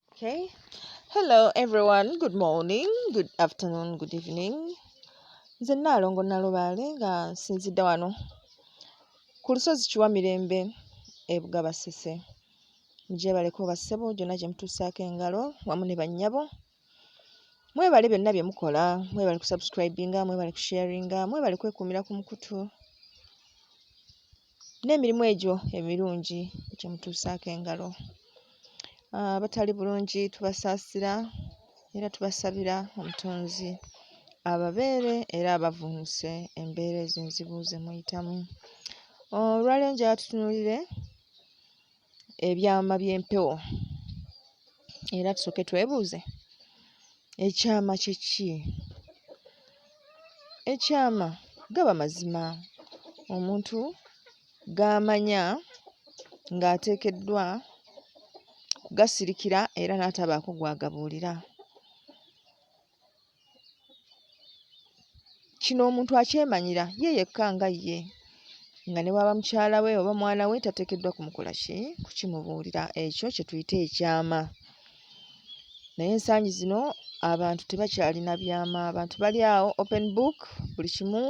Okay. Hello everyone. Good morning, good afternoon, good evening. Nze Nnaalongo Nalubaale nga nsinzidde wano ku lusozi Kiwamirembe e Bugabasese. Mugyebaleko bassebo gyonna gye mutuusaako engalo wamu ne bannyabo. Mwebale byonna bye mukola, mwebale kusubscribinga, mwebale kusharinga, mwebale kwekuumira ku mukutu. n'emirimu egyo emirungi gye mutuusaako engalo. Abatali bulungi tubasaasira era tubasabira Omutonzi ababeere era abavvuunuse embeera ezo enzibu ze muyitamu. Olwaleero njagala tutunuulire ebyama by'empewo era tusooke twebuuze ekyama kye ki? Ekyama gaba mazima omuntu g'amanya ng'ateekeddwa kugasirikira era n'atabaako gw'agabuulira. kino omuntu akyemanyira ye yekka nga ye nga ne bwaba mukyala we oba mwana we tateekeddwa kumukola ki kukimubuulira ekyo kye tuyita ekyama naye ensangi zino abantu tebakyalina byama abantu bali awo open book buli kimu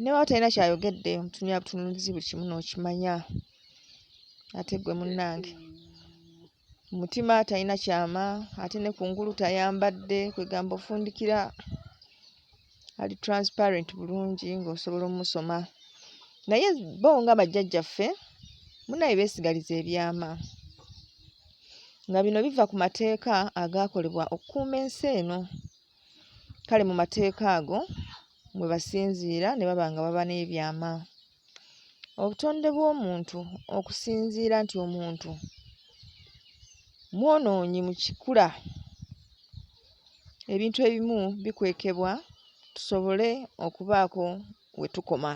newa talina kyayogedde omutunuya butunulizi buli kimu n'okimanya ate gwe munnange Mutima talina kyama ate ne kungulu tayambadde kwegamba ofundikira ali transparent bulungi ng'osobola omusoma naye bo nga bajjajjaffe munaye beesigaliza ebyama nga bino biva ku mateeka agaakolebwa okukuuma ensi eno kale mu mateeka ago mwe basinziira ne baba nga baba n'ebyama Obutonde bw'omuntu okusinziira nti omuntu mwonoonyi mu kikula, ebintu ebimu bikwekebwa tusobole okubaako we tukoma.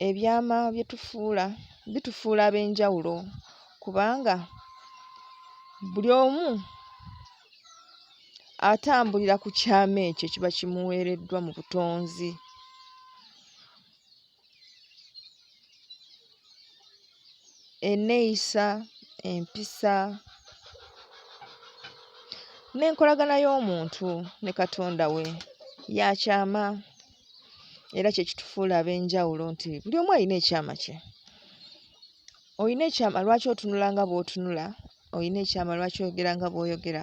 Ebyama bye tufuula bitufuula ab'enjawulo kubanga buli omu atambulira ku kyama ekyo ekiba kimuweereddwa mu butonzi. Enneeyisa, empisa n'enkolagana y'omuntu ne Katonda we ya kyama era kye kitufuula ab'enjawulo nti buli omu alina ekyama kye. olina ekyama lwaki otunula nga bw'otunula olina ekyama lwaki oyogera nga bw'oyogera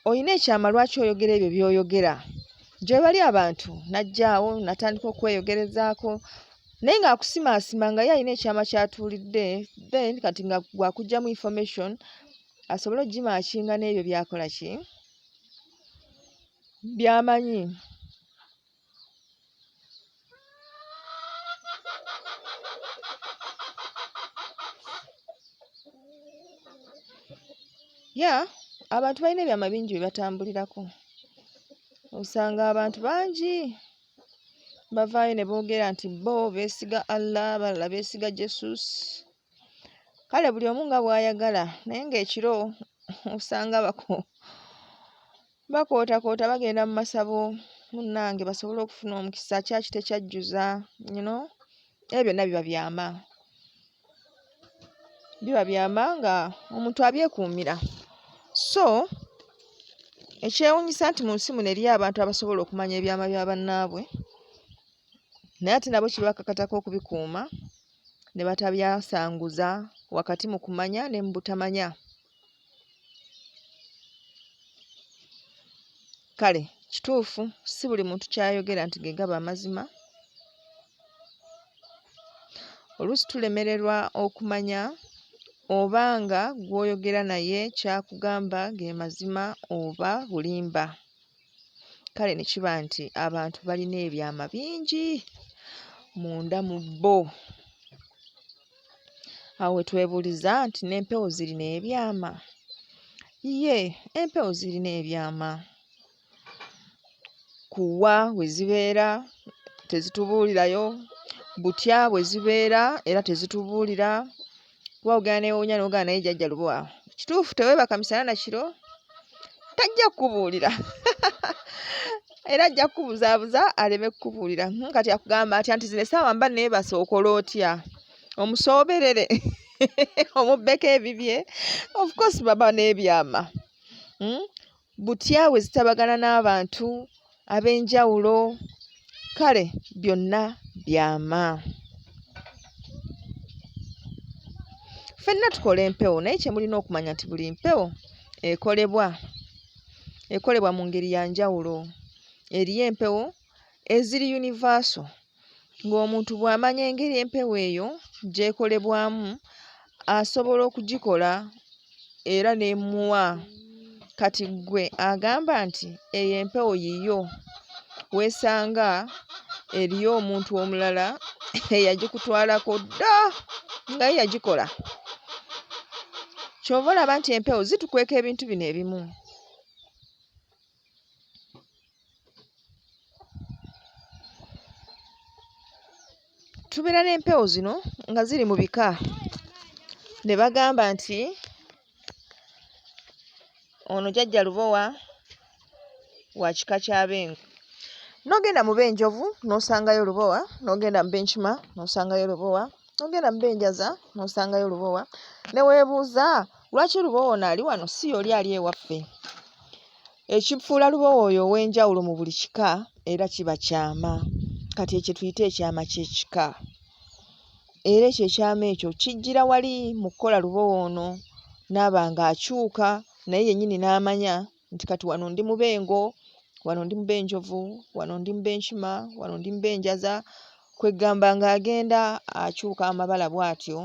olina ekyama lwaki oyogera ebyo by'oyogera gyebali abantu najjaawo natandika okweyogerezaako naye ng'akusimaasima nga ye alina ekyama kyatuulidde then kati nga gwakugjamu information asobole okugimaakinga n'ebyo byakola ki byamanyi ya abantu balina ebyama bingi bye batambulirako osanga abantu bangi bavaayo ne boogera nti bo beesiga allah balala beesiga jesus kale buli omu nga bw'ayagala naye ng'ekiro osanga bako bakootakoota bagenda mu masabo munnange basobole okufuna omukisa kyaki tekyajjuza you know ebyo byonna biba byama biba byama nga omuntu abyekuumira so ekyewunyisa nti mu nsi muno eriyo abantu abasobola okumanya ebyama bya bannaabwe naye ate nabo kibakakatako okubikuuma ne batabyasanguza wakati mu kumanya ne mu butamanya kale kituufu si buli muntu kyayogera nti gegaba amazima oluusi tulemererwa okumanya oba nga gw'oyogera naye kyakugamba ge mazima oba bulimba kale ne kiba nti abantu balina ebyama bingi munda mu bo. Awo we twebuuliza nti n'empewo zirina ebyama? Ye, empewo zirina ebyama. Kuwa we zibeera tezitubuulirayo, butya bwe zibeera era tezitubuulira. kuba ogenda newuunya nogaa naye jajja lubo awo kituufu teweebaka misana na kiro tajja kukubuulira era ajja kukubuzaabuza aleme kukubuulira hmm, kati akugamba atya nti zino esaawa mba neebasa okola otya omusooberere omubbeko ebibye ofcourse baba n'ebyama hmm? butya bwe zitabagana n'abantu ab'enjawulo kale byonna byama ffenna tukola empewo naye kye mulina okumanya nti buli mpewo ekolebwa ekolebwa mu ngeri ya njawulo eriyo empewo eziri universal ng'omuntu bw'amanya engeri empewo eyo gy'ekolebwamu asobola okugikola era n'emuwa kati ggwe agamba nti eyo empewo yiyo weesanga eriyo omuntu omulala eyagikutwalako dda nga ye yagikola ky'ova olaba nti empewo zitukweka ebintu bino ebimu. tubeera n'empewo zino nga ziri mu bika ne bagamba nti ono jajja lubowa wa kika kya bengo n'ogenda mu benjovu n'osangayo lubowa n'ogenda mu benkima n'osangayo lubowa ogenda mu benjaza nosangayo lubowa newebuuza lwaki lubowa ono ali wano si yoli ali ewaffe ekifuula lubowa oyo ow'enjawulo mu buli kika era kiba kyama kati ekyo tuyite ekyama ky'ekika era ekyo ekyama ekyo kijjira wali mu kukola lubowa ono naaba nga akyuka naye yennyini n'amanya nti kati wano ndi mu bengo wano ndi mu benjovu wano ndi mu benkima wano ndi mu benjaza kweggamba ng'agenda akyuka amabala bw'atyo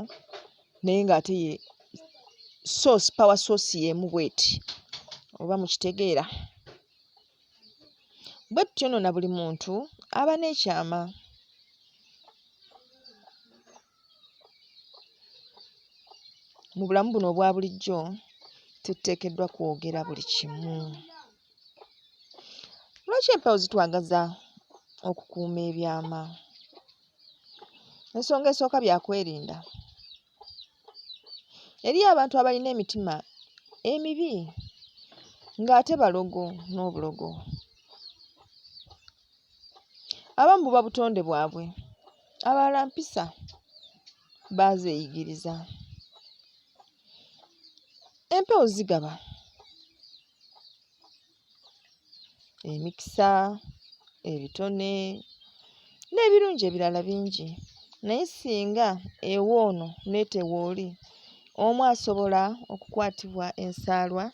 naye ng'ate ye source power source y'emu bweti oba mukitegeera bwe tutyo nno na buli muntu aba n'ekyama Mu bulamu buno obwa bulijjo tuteekeddwa kwogera buli kimu. Lwaki empewo zitwagaza okukuuma ebyama? Ensonga esooka bya kwerinda. Eriyo abantu abalina emitima emibi ng'ate balogo n'obulogo. abamu buba butonde bwabwe abalala mpisa baazeyigiriza empewo zigaba emikisa ebitone n'ebirungi ebirala bingi naye singa ewa ono n'etewa oli omu asobola okukwatibwa ensaalwa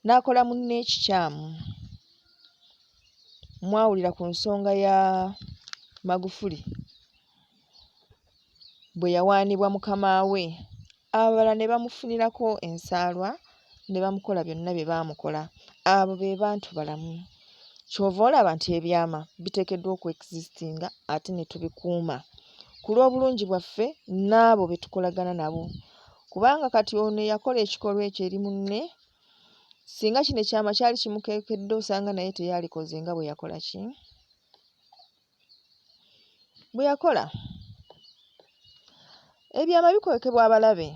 n'akola munne ekikyamu mwawulira ku nsonga ya Magufuli bwe yawaanibwa mukama we abalala ne bamufunirako ensaalwa ne bamukola byonna bye baamukola abo be bantu balamu ky'ova olaba nti ebyama biteekeddwa okuexistinga ate ne tubikuuma ku lw'obulungi bwaffe n'abo be tukolagana nabo kubanga kati ono eyakola ekikolwa ekyo eri munne Singa kino ekyama kyali kimukekedde osanga naye teyalikoze nga bwe yakola ki bwe yakola. Ebyama bikwekebwa abalabe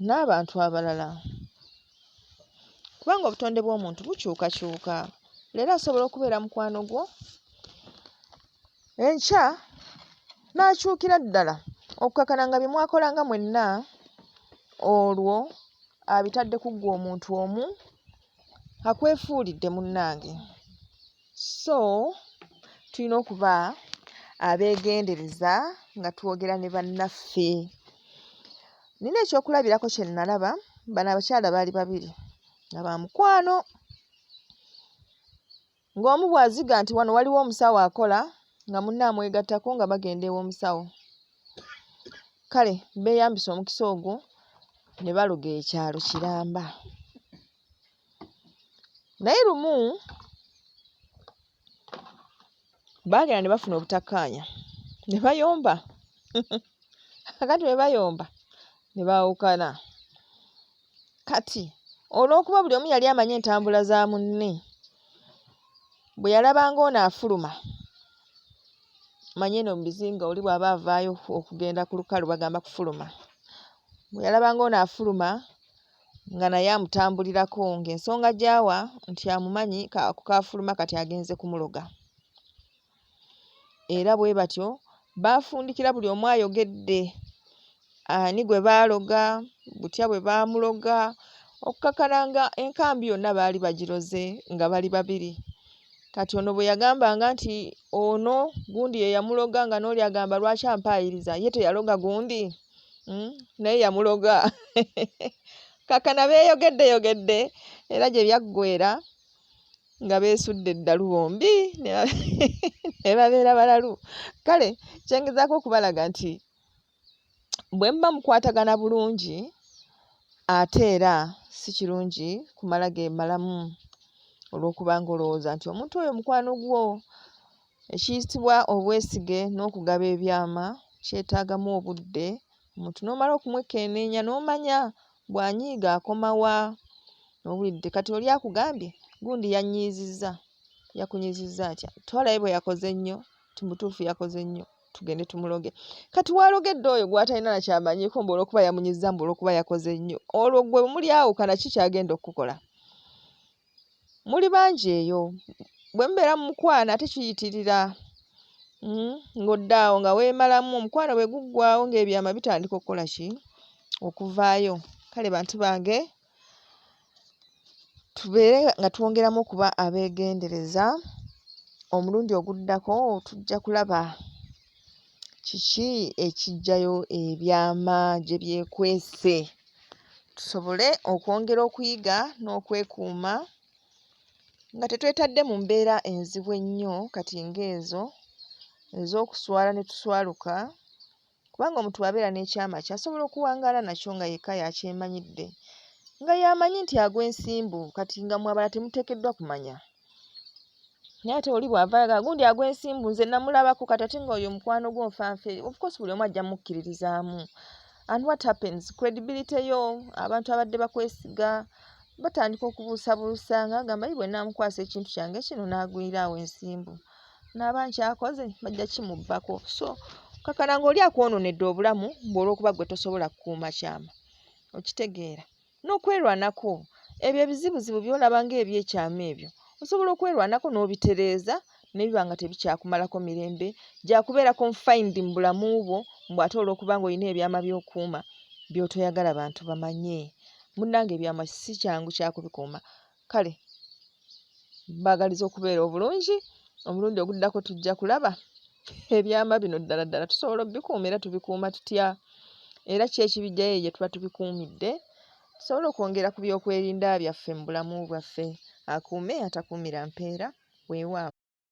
n'abantu abalala kubanga obutonde bw'omuntu bukyukakyuka. Leero asobola okubeera mukwano gwo Enkya n'akyukira ddala okukakana nga bye mwakolanga mwenna olwo abitadde ku ggwe omuntu omu akwefuulidde munnange so tulina okuba abeegendereza nga twogera ne bannaffe nina ekyokulabirako kye nnalaba bano abakyala baali babiri nga ba mukwano Ng'omu bw'aziga nti wano waliwo omusawo akola nga munne amwegattako nga bagenda ew'omusawo. Kale beeyambisa omukisa ogwo ne baloga ekyalo kiramba. Naye lumu baagera ne bafuna obutakkaanya ne bayomba kakati bwe bayomba ne baawukana. Kati olw'okuba buli omu yali amanyi entambula za munne, bwe yalabanga ono afuluma, manya eno mu bizinga oli bw'aba avaayo okugenda ku lukalu bagamba kufuluma, bwe yalabanga ono afuluma nga naye amutambulirako ng'ensonga gy'awa nti amumanyi ako k'afuluma kati agenze kumuloga. era bwe batyo baafundikira buli omu ayogedde ani gwe baaloga, butya bwe baamuloga okukakana nga enkambi yonna baali bagiroze nga bali babiri. Kati ono bwe yagambanga nti ono gundi ye yamuloga nga n'oli agamba lwaki ampaayiriza ye teyaloga gundi hmm? naye yamuloga kakana beeyogeddeyogedde era gye byaggweera nga beesudde eddalu bombi ne babeera balalu kale kyengezaako okubalaga nti bwe muba mukwatagana bulungi ate era si kirungi kumala gemalamu olw'okuba nga olowooza nti omuntu oyo mukwano gwo ekiyitibwa obwesige n'okugaba ebyama kyetaagamu obudde omuntu n'omala okumwekenneenya n'omanya bw'anyiiga akoma wa, owulidde kati oli akugambye gundi yannyiizizza, yakunyiizizza atya? Tewalabe bwe yakoze ennyo nti mu butuufu yakoze nnyo tugende tumuloge. Kati w'alogedde oyo gw'atalina na ky'amanyiiko mbu olw'okuba yamunyiizizza mbu olw'okuba yakoze nnyo, olwo ggwe bwe mulyawukana ki ky'agenda okukukola? muli bangi eyo bwe mubeera mu mukwano ate kiyitirira hmm, ng'odda awo nga weemalamu omukwano bwe guggwawo ng'ebyama bitandika okukola ki okuvaayo kale bantu bange tubeere nga twongeramu okuba abeegendereza omulundi oguddako tujja kulaba Kiki ekiggyayo ebyama gye byekwese? Tusobole okwongera okuyiga n'okwekuuma nga tetwetadde mu mbeera enzibu ennyo kati ng'ezo ez'okuswala ne tuswaluka kubanga omuntu bw'abeera n'ekyama kye asobola okuwangaala nakyo nga yekka y'akyemanyidde nga y'amanyi nti agwa ensimbu kati nga mmwe abalala temuteekeddwa kumanya. naye ate oli bw'ava ayagala gundi agw'ensimbu nze namulabako kati ate nga oyo omukwano gwo nfanfe ofcourse buli omu ajja mukkiririzaamu and what happens credibility yo abantu abadde bakwesiga batandika okubuusabuusa nga agamba yi bwenamukwasa ekintu kyange kino n'agwiraawo ensimbu naaba nkyakoze bajja kimubbako so kakana ngaoli akwononedde obulamu mbu olwokuba gwe tosobola kukuuma kyama okitegeera n'okwerwanako ebyo ebizibuzibu by'olaba ng'ebyekyama ebyo osobola okwerwanako n'obitereeza ne biba nga tebikyakumalako mirembe gya kubeera confined mu bulamu bwo mbu ate olw'okuba ng'olina ebyama by'okuuma by'otoyagala bantu bamanye munnange ebyama si kyangu kya kubikuuma Kale mbaagaliza okubeera obulungi, omulundi oguddako tujja kulaba ebyama bino ddala ddala tusobola obikuuma era tubikuuma tutya era ki ekibiggyayo eyo gye tuba tubikuumidde tusobole okwongera ku byokwerinda byaffe mu bulamu bwaffe akuume atakuumira mpeera weewaawo.